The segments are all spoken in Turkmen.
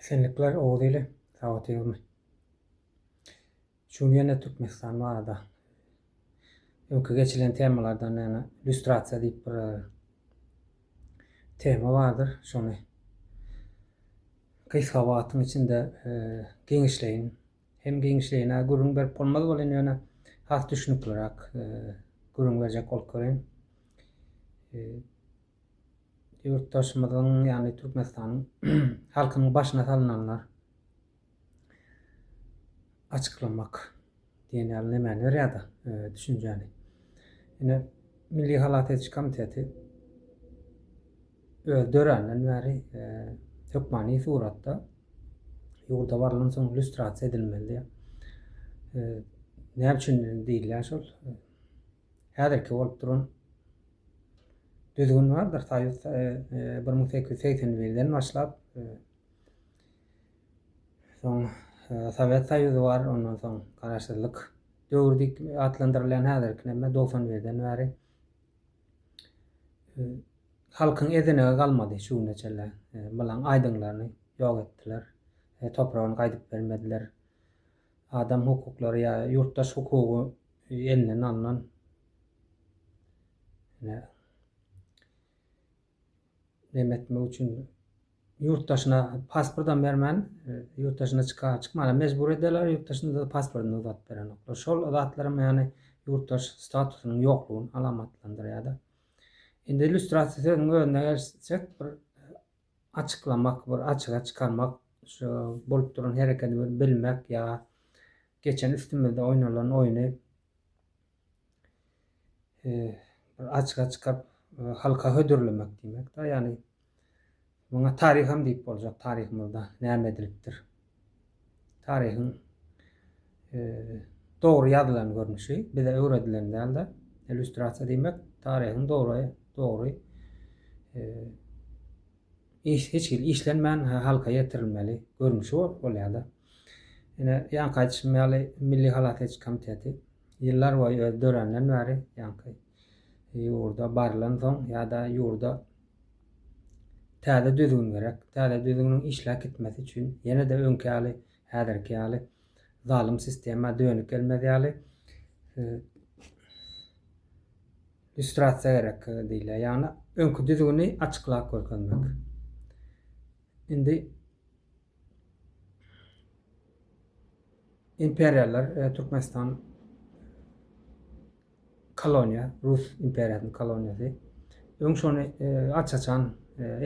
Esenlikler Oguz ili, sagotygmy? Şu gün ýene Türkmenistan barada öňki geçilen temalardan ýene illýustrasiýa diýip bir e, tema bardyr. Şony gysga wagtyň içinde e, giňişleýin. Hem giňişleýin gürrüň berip bolmaz bolýan ýöne has düşünikliräk e, gürrüň berjek bolup görýän. ýurtdaşymyzyň, ýagny Türkmenistanyň halkynyň başyna salynanlar açyklamak diýen ýaly nemäni berýär-de, düşünjäni. Ine, Milli halas ediş komiteti öz döränden bäri hökmany suratda ýurda barylan soň lýustrasiýa edilmeli diýýär. Näme üçin diýilýär şol? häzirki bolup duran düzgün bardyr, soýuz bir müň sekiz ýüz segsen birden başlap, soň Sowet Soýuzy bar, ondan soň garaşsyzlyk döwri diýip atlandyrylýan häzirki näme dogsan birden bäri halkyň ezenegi galmady şu güne çenli. Bulaň aýdyňlaryny ýok etdiler. Topragyny gaýdyp bermediler. adam hukuklary ýa ýurtdaş hukugy elinden alnan ýa näme etmek üçin ýurt daşyna pasportam bermän ýurt daşyna çyka çykmana mejbur ederler ýurt daşynda pasportyny uzatyp berenoklar şol zatlaram ýagny ýurtdaş statusynyň ýoklugyny alamatlandyrýada indi illýustrasiýa sözüniň özüne gelsek bir açyklamak bir açyga çykarmak şu bolup duran herekedi bir bilmek ýa geçen üstümizde oýnalan oýny bir açyga çykaryp halka hödürlemek diýmek da ýagny muňa taryham diýip boljak taryhymyzda näme edilipdir taryhyň dogry ýazylan görnüşi bize öwredilen däl-de, illýustrasiýa diýmek taryhyň dogry dogry iş hiç hili işlenmän halka ýetirilmeli görnüşi bolýar-da. Ine, ýaňky aýdyşym ýaly Milli halas ediş komiteti ýyllar boýy öz döränenden bäri ýaňky ýurda barlansoň ýa-da ýurda Täze düzgün gerek. Täze düzgüniň işläp gitmesi üçin ýene-de öňki ýaly, häzirki ýaly zalym sistema dönüp gelmez ýaly lýustrasiýa gerek diýilýär. Ýagny öňki düzgüni açyklap görkezmek. Indi imperiýalar Türkmenistan Koloniýa, rus imperiýasynyň koloniýasy. Öň şony aç-açan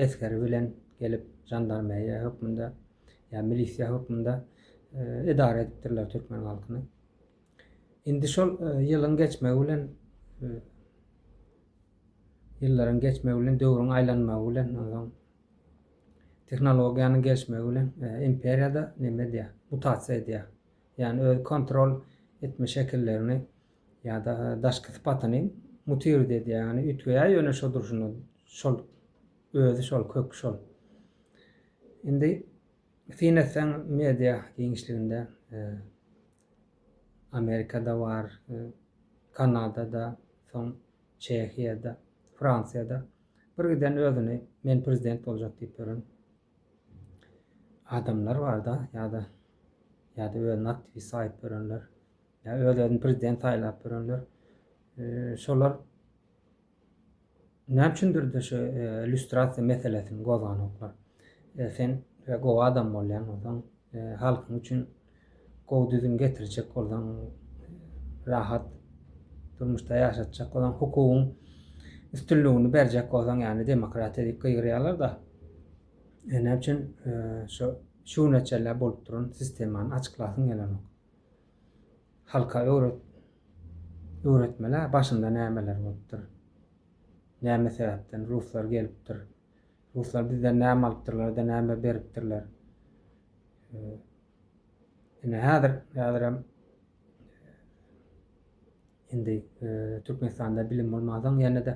esgeri bilen gelip žandarmeriýa hökmünde ýa milisiýa hökmünde edara edipdirler türkmen halkyny. Indi şol ýylyň geçmegi bilen ýyllaryň geçmegi bilen, döwrüň aýlanmagy bilen, onsoň tehnologiýanyň gelişmegi bilen imperiýada näme edýär? Mutasiýa edýär. Ýagny öz kontrol etme şekillerini Ýa-da daşky sypatyny mutiruýt edýär, ýagny üýtgeýär, ýöne şo durşuna şol, özi şol, köki şol. Indi syn etseň media giňişliginde e, Amerikada bar, e, Kanadada, soň Çehiýada, Fransiýada bir giden özüni men prezident boljak diýip ýören adamlar barda ýa-da ýa-da özüne aktiwist saýyp görenler ýa özlerini prezident saýlap görenler şolar näme üçindir şu illýustrasiýa meselesini gozganoklar sen gowy adam bolýan bolsaň halkyň üçin gowy düzüm getirjek bolsaň, rahat durmuşda ýaşatjak bolsaň, hukugyň üstünligini berjek bolsaň, ýagny demokratiýa diýip gygyrýarlar-da. E, näme üçin e, şu şu güne çenli bolup duran sistemany açyklasyň gelenok. Halka öwret öwretmeli, başynda nämeler bolupdyr. Näme sebäpden ruslar gelipdir. Ruslar bizden näme alypdyrlar-da, näme beripdirler? Ine, häzir, häzirem indi Türkmenistanda bilim bolmansoň, ýene-de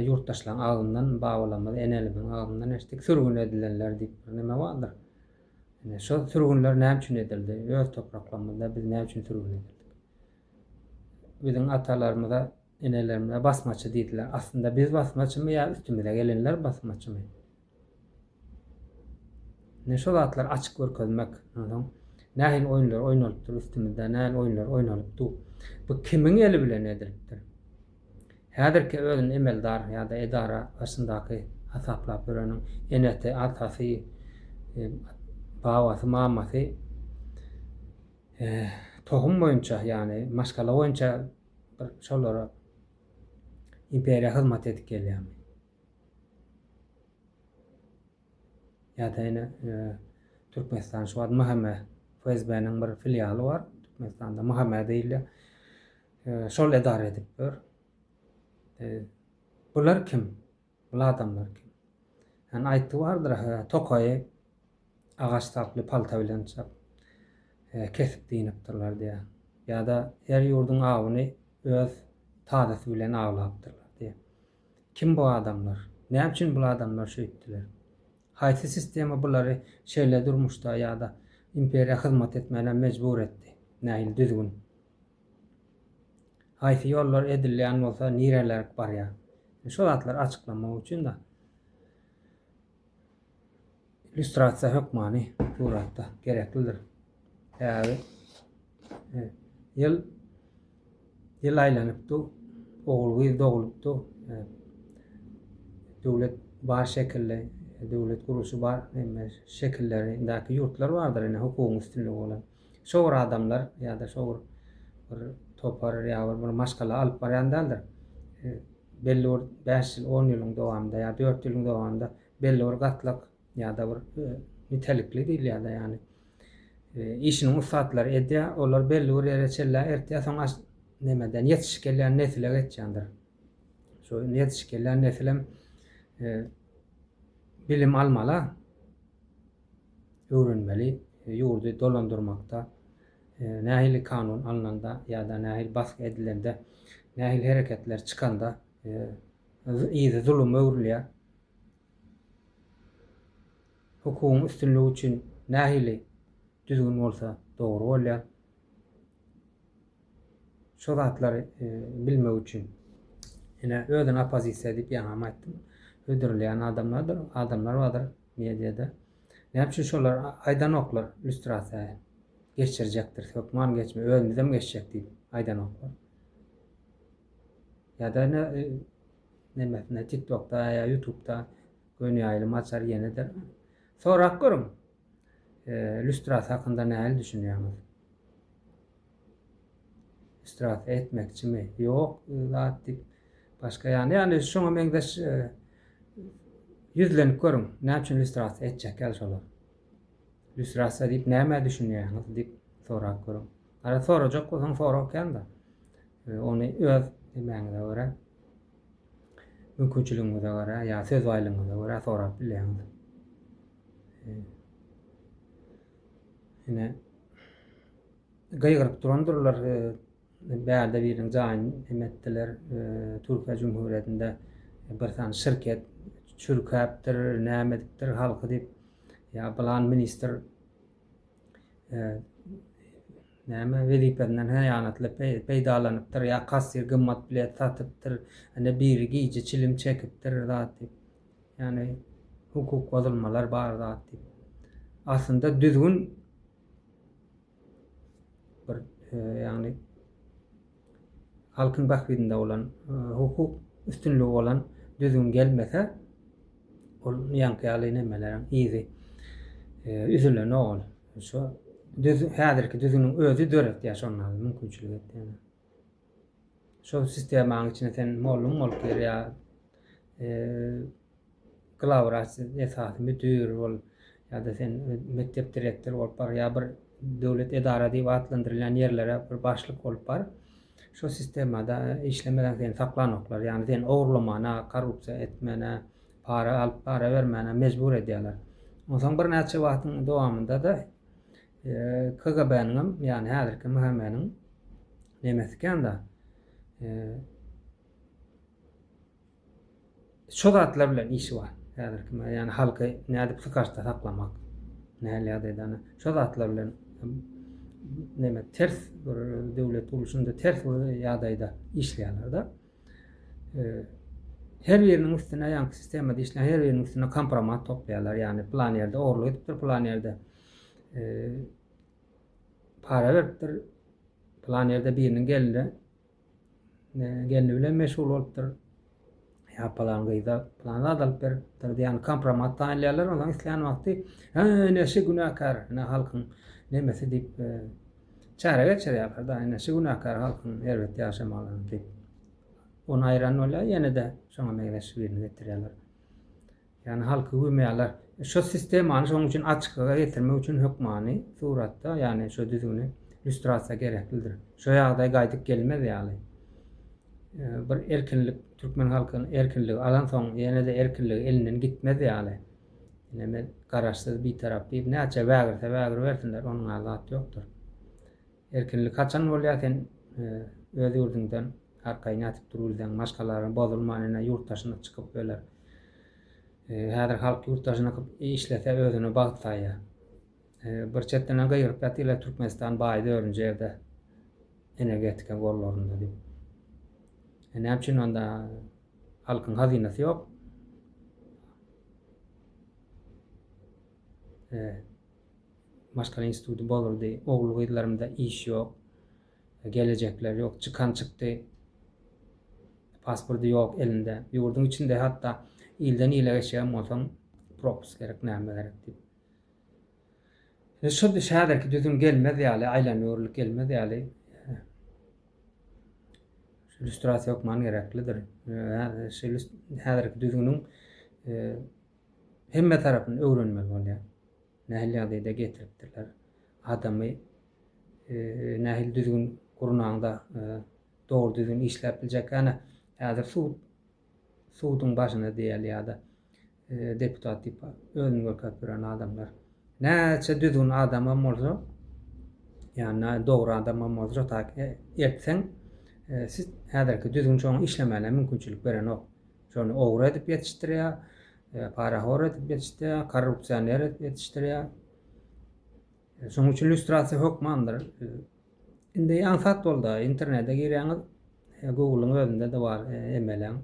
ýurtdaşlaryň agzyndan, babalarymyz, enelerimiziň agzyndan eşitdik, sürgün edilenler diýip bir näme bardyr. Ine, şol sürgünler näme üçin edildi? Öz topraklarymyzda biz näme üçin sürgün edildik? Biziň atalarymyza Enelerimize basmaçy diýdiler. Aslynda biz basmaçymy ýa üstümize gelenler basmaçymy? Ne şo zatlar açyk görkezmek. Ondan nähili oýunlar oýnalypdyr üstümizde, nähili oýunlar oýnalypdy. Bu kimiň eli bilen edilipdir? Häzirki özüni emeldar ýa-da edara başyndaky hasaplap ýöreniň enesi, atasy, e, babasy, mamasy e, tohum boýunça, ýagny maşgala boýunça Bir şolara imperiýa hyzmat edip gelýärmi? Ýa-da ýene e, Türkmenistan şu wagt MHM FSB-niň bir filialy bar. Türkmenistanda MHM diýilýär. E, şol edara edip dur. E, bular kim? Ol adamlar kim? Ýani aýtdy bardyr ahyryn hä tokaýy agaç saply palta bilen çap hä kesip dynipdirler diýýär. Ýada her ýurduň awuny öz tazasy bilen awlapdyrlar diýýär. Kim bu adamlar? Näme üçin bul adamlar şeýtdiler? Haýsy sistema bulary şeýle durmuşda ýada imperiýa hyzmat etmäne mejbur etdi? Nähili düzgün? Haýsy ýollar edilýän bolsa nirelerk barýar. Şu zatlary açyklamak üçin-de illýustrasiýa hökmany suratda gereklidir. Sebäbi e, ýyl ýyl aýlanypdy, ogul gyz dogulupdy. E, döwlet bar şekilli, döwlet gurluşy bar, şekillerindäki ýurtlar bardyr, ine hukugyň üstünligi bolan. Şo bir adamlar ýa-da şo bir bir topar ýa bir bir maşgala alyp barýan däldir. Belli bir bäş ýyl, on ýylyň dowamynda ýa dört ýylyň dowamynda belli bir gatlak ýa-da bir nitelikli diýilýär-de, ýagny işiniň ussatlary edýär, olar belli bir ýere çenlä eltýär, soň aş nemeden ýetişip gelýän nesle geçýändir. Şo ýetişip gelýän nesilem bilim almala. öwrenmeli, ýurdy dolandyrmakda nähili kanun alnanda ýa-da nähili basgy edilende, nähili hereketler çykanda yzy zuluma öwrülýär, hukugyň üstünligi üçin nähili düzgün bolsa dogry bolýar, şo zatlary bilmek üçin ine özüni oppozisiýa diýip ýaňam aýtdym, hödürleýän adamlardyr, adamlar bardyr. Mediada näme üçin şolar aýdanoklar lýustrasiýa geçirjekdiris hökman geçme özümizem geçjek diýip aýdanoklar. Ýa-da ine nemesinde TikTokda ýa YouTubda göni ýaýlym açar ýenedir. Sorap görüň. Lýustrasiýa hakynda näli düşünýäňiz? Istraf etmekçimi? Ýok zat diýip, başga ýany, ýagny şoňa meňzeş e, ýüzlenip görüň. Näme üçin lýustrasiýa etjek ýaly şolar? Lýustrasiýa diýip nämä düşünýäňiz diýip sorap görüň. Ara sorajak bolsaň sorag kände. E, ony öz nämäňize görä mümkinçiligiňize görä ýa söz baýlygyňyza görä sorap bilýäňiz. E, ine Gygyryp durandyrlar, bärde biriniň jaýyny hem etdiler. Türkiýe Jumhurýetinde bir sany şirket çürkäpdir, näme edipdir halky diýip, ýa plan ministr näme wezipesinden hyýanatly peýdalanypdyr, ýa kassir gymmat bilet satypdyr, ine biri gije çilim çekipdir zat diýip. Ýagny hukuk bozulmalar bar zat diýip. Aslynda düzgün bir e, ýagny halkyň bahydynda bolan e, hukuk üstünligi bolan düzgün gelmese ol ýaňky ýaly nemeleriň yzy e, üzülen ol şu düz häzirki düzgüniň özi döretýär şonda mümkinçilik etýär şol sistemaň içine sen mollum bolup gir ýa glawwraç esasy müdir bol ýa-da sen mekdep direktory bolup bar ýa bir döwlet edara diýip atlandyrylýan ýerlere bir başlyk bolup bar şu sistemada işlemeseň seni saklanoklar ýagny seni ogurlamana korrupsiýa etmäne para alyp para bermäne mejbur edýärler onsoň birnäçe wagtyň dowamynda-da KGB-niňem, ýagny häzirki MHM-niň nemesi ikän-de, şu zatlar bilen işi bar. Häzirki me, ýagny halky nädip sykaçda saklamak, nähili ýagdaýda ana şu zatlar bilen neme ters bir döwlet gurluşynda ters bir ýagdaýda işleýärler-de. Her biriniň üstüne ýaňky sistemada işleýän her biriniň üstüne kompromat toplaýarlar, ýagny plan ýerde ogurlyk edipdir, plan ýerde para beripdir. Plan ýerde biriniň gelinde gelini bilen meşgul bolupdyr. Ya plan gyza plan zat alyp beripdir diýen kompromat taýýarlaýarlar. Ondan islän wagty "Ha, neşe günäkär, ne halkyň nemesi" diýip e, çäre geçirýärler. Da neşe günäkär halkyň erbet ýaşamagyny diýip. Onu aýran bolýar, ýene-de şoňa meňzeş birini getirýärler. Ýagny halky güwmeýärler. Şo sistemany şonuň üçin açyklyga getirmek üçin hökmany suratda, ýagny şo düzgüni lýustrasiýa gereklidir. Şo ýagdaý gaýdyp gelmez ýaly. Bir erkinlik türkmen halky erkinligi alansoň ýene-de erkinligi elinden gitmez ýaly. Ine men garaşsyz, bitarap diýip näçe wägirse wägiribersinler onuň-a zat ýokdur. Erkinlik haçan bolýa sen öz ýurduňdan arkaýyn ýatyp dur bilseň maşgalaň bozulman ine ýurt daşyna çykyp öler. Häzir halk ýurt daşyna kyp işlese özüne bagt saýýa. Bir çetden gygyryp ýatylar Türkmenistan baý dördünji ýerde energetika gollarynda diýip. E näme üçin onda halkyň hazynasy ýok? E, maşgala instituty bolurdy, ogul-gyzlarymda iş ýok, gelejekleri ýok, çykan çykdy, pasporty ýok elinde, ýurduň içinde hatda ilden ile geçýän bolsaň propus gerek näme gerek diýip. Indi şu häzirki düzüm gelmez ýaly, aýlanöwürlik gelmez ýaly illýustrasiýa hökman gereklidir. Häzirki düzgüniň hemme tarapyny öwrenmeli bolýar. Nähili ýagdaýda getiripdirler? Adamy nähili düzgün gurnaňda dogry düzgün işläp biljek? Ýa-da häzir sud suduň başynda diýeli ýa-da deputat diýip özüni görkezip ýören adamlar. Näçe düzgün adamam bolsa, ýa-da dogry adamam bolsa, taýki ertseň siz häzirki düzgün şoňa işlemäne mümkinçilik berenok. Şony ogry edip ýetişdirýär, Parahor edip ýetişdirýär, korrupsioner edip ýetişdirýär. Şonuň üçin lýustrasiýa hökmandyr. Indi aňsat boldy, internete girýäňiz, Google-yň özünde-de bar, emeleň.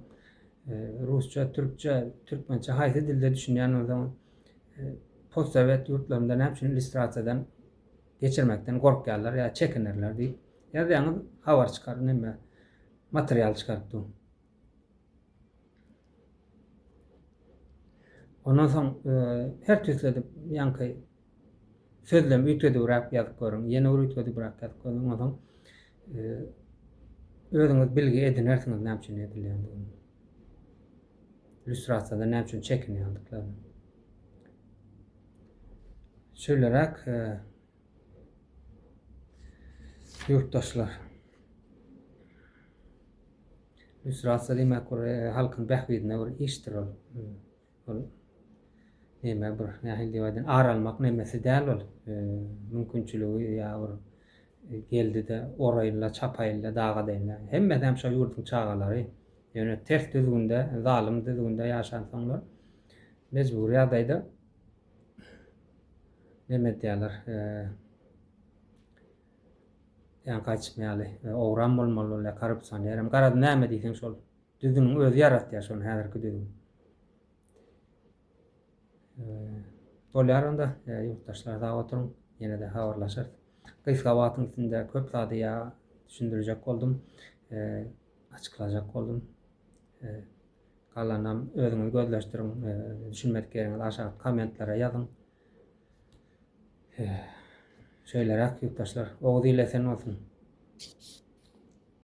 Rusça, türkçe, türkmençe haýsy dilde düşünýän bolsaňyz, postsowet ýurtlarynda näme üçin lýustrasiýadan geçirmekden gorkýarlar ýa çekinerler diýip ýazýaňyz, habar çykar, neme, material çykaryp dur. Ondan soň her tüsledip ýaňky sözlemi üýtgedibräk ýazyp görüň. Ýene bir üýtgedibräk ýazyp görüň. Ondan soň özüňiz bilgi edinersiňiz näme üçin edilýändigini. Illýustrasiýada näme üçin çekinýändiklaryny. Şeýleräk Ýurtdaşlar! Lýustrasiýa diýmek bir halkyň bähbidine bir işdir ol. Ol näme bir nähili diýip aýdan ar almak nemesi däl ol. Mümkinçiligi ýa bir geldi-de oraýynla çapaýynla dagadaýynla. Hemmesi hem şol ýurduň çagalary. Ýöne ters düzgünde, zalym düzgünde ýaşansoňlar mejbury ýagdaýda neme edýärler, ýa gaçma ýaly, owram bolmaly ol ýa korrupsioner, hem garaz näme diýseň şol düzümiň özi ýaratýar şony häzirki düzüm. Bolýar onda ýurtdaşlar sag oturyň, ýene-de habarlaşarys. Gysga wagtyň içinde köp zady ýa düşündirjek boldum, açyklajak boldum. Galanam özüňiz gözleşdiriň düşünmedik ýeriňizi aşak kommentlere ýazyň. Şeýleräk ýurtdaşlar. Oguz il esen bolsun.